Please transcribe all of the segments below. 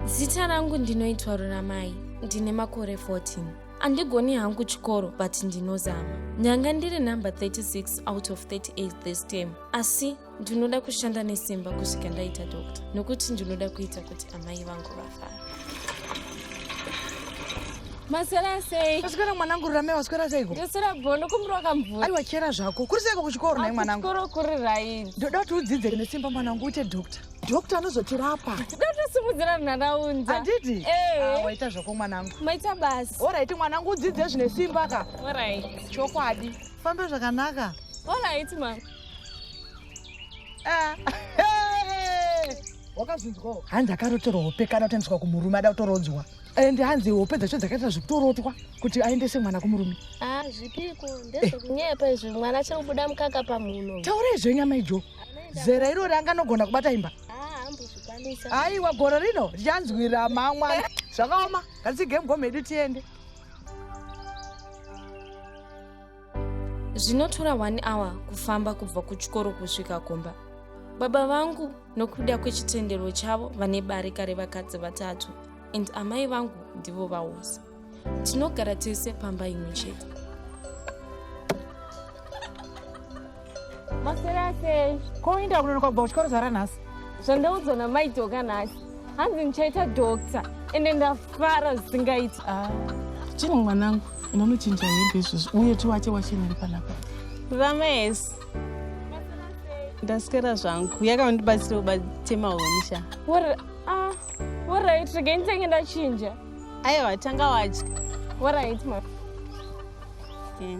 zita rangu ndinoitwa ruramai ndine makore 14 andigoni hangu chikoro but ndinozama nyanga ndiri number 36 out of 38 this time asi ndinoda kushanda nesimba kusvika ndaita doctor nokuti ndinoda kuita kuti amai vangu vafa Maswera sei? Maswera mwanangu Rurame waswera seiko? Ndoswera bho ndokumbira wakamvura. Aiwa chera zvako. Kuri seiko kuchikoro naye mwanangu? Kuchikoro kuri right. Ndoda kuti udzidze nesimba mwanangu uite doctor. Doctor anozotirapa. Ndatosimudzira nharaunda. Anditi? Eh. Ah, waita zvako mwanangu. Maita basi. All right mwanangu udzidze zvine simba ka. All right. Chokwadi. Famba zvakanaka. All right mama. Ah, wakazvinzwawo hanzi akarotorwa hope kana kutendeswa kumurume ada kutorodzwa and hanzi hope dzacho dzakaita zvekutorotwa kuti aendese mwana kumurume ah, zvipiko ndezvekunyepa izvi mwana achiri kubuda mukaka pamhuno taura izvo nyama ijo zera irori anganogona kubata imba ah, aiwa goro rino richanzwira mamwana zvakaoma ngatigame gomhedu tiende zvinotora one hour kufamba kubva kuchikoro kusvika kumba baba vangu nokuda kwechitendero chavo vane barika revakadzi vatatu and amai vangu ndivo vaosi tinogara tese pamba imwe chete masera sei ko uinda kunonoka kubva kuchikoro zvara nhasi zvandaudzwa namai doka nhasi hanzi ndichaita dokta ende ndafara zvisingaiti ah, chii mwanangu unonochinja hembe izvozvi uye tiwache wachiniri panapa vamesi ndaswera zvangu yakaundibatsira kubatema huni sha ah, orit regai nditenge ndachinja aiwa tanga wadya orit ma yeah.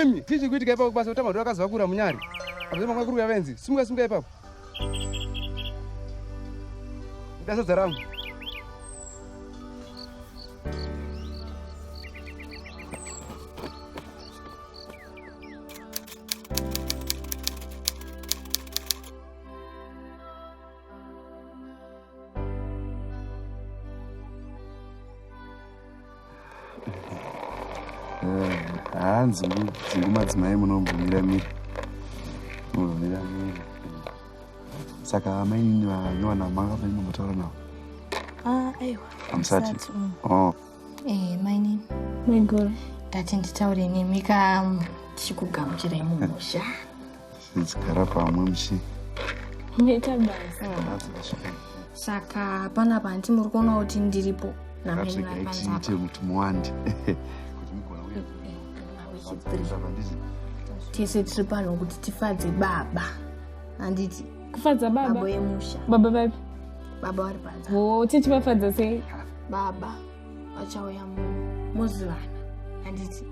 imi tichi kuitika ipapo kubasa kuti madhoro akaziva kura munyari apazve mangwa kuruya venzi simuka simuka ipapo idasadza rangu hanzi dzingu madzimai munombomira mira munomira mira saka amainini vanywana manga maino mataura navo ah, aiwa amusati mm. oh. eh, mainini maigoro ndati nditaure nemi ka tichikugamuchirai mumusha Tichigara pamwe muchi. Nita basa. Saka pana panti muri kuona kuti ndiripo. Ngatiga itiite kuti muwande. Kuti mugona uye. Tese tiri pano kuti tifadze baba. Anditi. Kufadza baba. Baba yemusha. Baba vapi? Baba vari panze. Oh, tichivafadza sei? Baba. vachauya muno mozivana handiti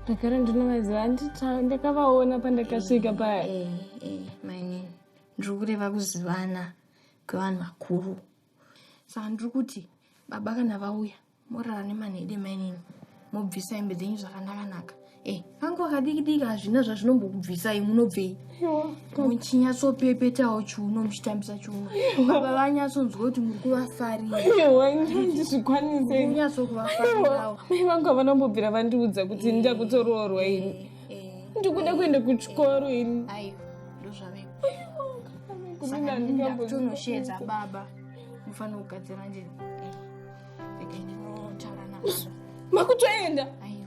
ndagara ndinovaziva handiti ndakavaona pandakasvika paya eh, eh, eh, maine ndiri kureva kuzivana kwevanhu vakuru saka ndiri kuti baba kana vauya morara nemanhede mainini mobvisa hembe dzenyu zvakanaka naka Eh, hangu akadiki diki hazvina zvazvinombokubvisai munobvei muchinyatsopepetawo chiuno muchitambisa chiuno baba vanyatsonzwa kuti muri kuvafariranyatsokuvafariao mai vangu havanombobvira vandiudza kuti ndida eh, kutoroorwa ini eh, eh. ndikuda kuenda kuchikoro ini ndozvavekotonoshedza baba mufanira kugadzira njeni makutoenda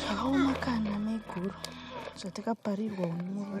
zvakaoma kana maiguru zvatakaparirwa unoa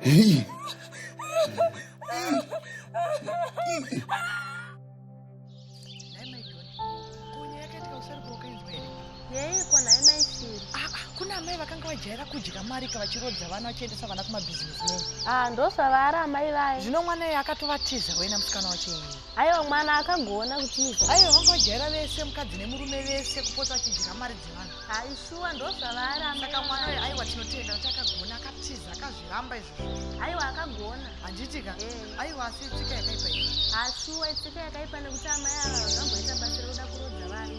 Hey. vajaira kudya mari ka vachirodza vana vachiendesa vana kumabhizinesi meni ah ndosvavaara amai vaye zvino mwana iye akatovatiza wena musikana wacho iye Aiwa mwana akagona kutiza. Aiwa vanga vajaira vese mukadzi nemurume vese kupota vachidya mari dzevanhu. Aishuwa ndozvavaaramba. Saka mwana uyo aiwa tinotenda kuti akagona akatiza akazviramba izvozvo. Aiwa akagona. Handiti ka? Eh. Aiwa asi itsika yakaipa iyi. Ashuwa itsika yakaipa nekuti amai ava vakamboita basa rekuda kurodza vanhu.